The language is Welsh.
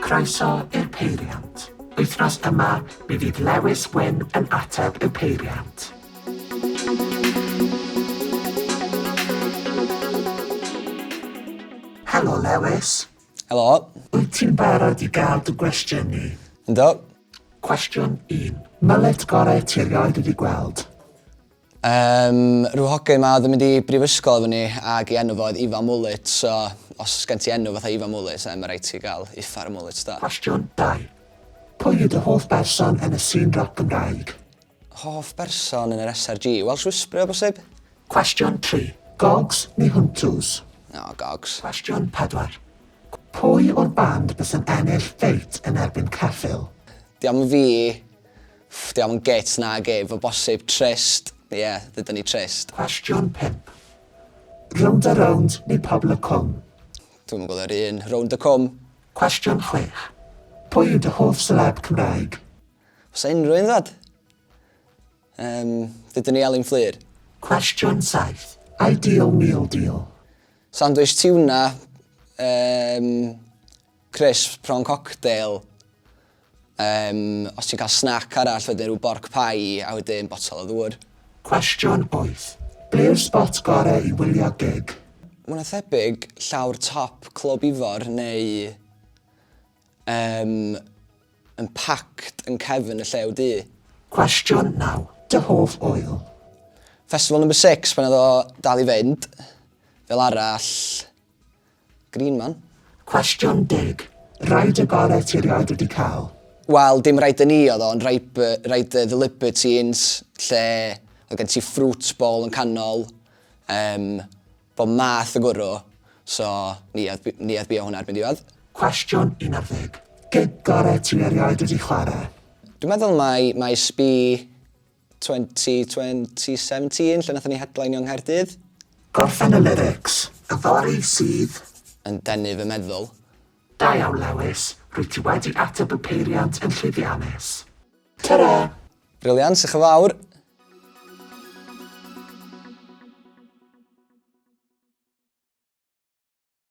Croeso i'r Peiriant. Wythnos yma, mi fydd Lewis Wyn yn ateb y peiriant. Helo Lewis. Helo. Wyt ti'n barod i gael dy gwestiynu? Ynddo. Cwestiwn 1. Myllet gorau ti erioed wedi gweld? Yym rhyw hogyn 'ma odd yn mynd i brifysgol efo ni ag 'i enw fo oedd Ifan Mullet so os gen ti enw fatha Ifan Mullet then ma' raid ti ga'l uffar o mullets do? Cwestiwn dau. Pwy yw dy hoff berson yn y sîn roc Gymraeg? Hoff berson yn yr SRG? Welsh Whisperer o bosib? Cwestiwn tri. Gogs neu Huntws? O, Gogs. Cwestiwn pedwar. Pwy o'r band bysa'n ennill ffeit yn erbyn Ceffyl? Dio'm yn fi. Ff, dio'm yn gêt nag ef, o bosib, trist, ie, ddeuda ni trist. Cwestiwn pump. Rownd a rownd neu pobl y cwm? Dwi'm yn gweld yr un, rownd y cwm. Cwestiwn chwech. Pwy yw dy hoff seleb Cymraeg? Oes 'na unrhyw un ddod? Yym, ddeuda ni Elin Fflur. Cwestiwn saith. Ideal meal deal? Sandwich tiwna, yym, Crisps, prawn cocktail, yym, os ti'n cael snac arall wedyn rhyw borc pie a wedyn botel o ddŵr. Cwestiwn 8, Be yw'r spot gorau i wylio gig? Mwy na thebyg llawr top Clwb Ifor neu yym yn packed yn cefn y Llew Du. Cwestiwn 9, Dy hoff ŵyl? Festival Number Six pan oedd o dal i fynd, fel arall, Green man. Cwestiwn deg. Rhaid y gorau ti rioed wedi cael. Wel, dim rhaid y ni oedd o, ond rhaid, rhaid y The Libertines, lle oedd gen ti fruit bowl yn canol, um, bod math o gwrw, so ni oedd, ni oedd bio hwnna erbyn diwedd. Cwestiwn 11. Gig gorau ti erioed wedi chwarae? Dwi'n meddwl mai, mai sbi 2020 17 lle nathon ni hedlainio yng Nghaerdydd. Gorffen y lyrics yfory sydd. Yn denu fy meddwl. Da iawn Lewis, rwyt ti wedi ateb y peiriant yn llwyddiannus. Tara! Brilliant, diolch yn fawr.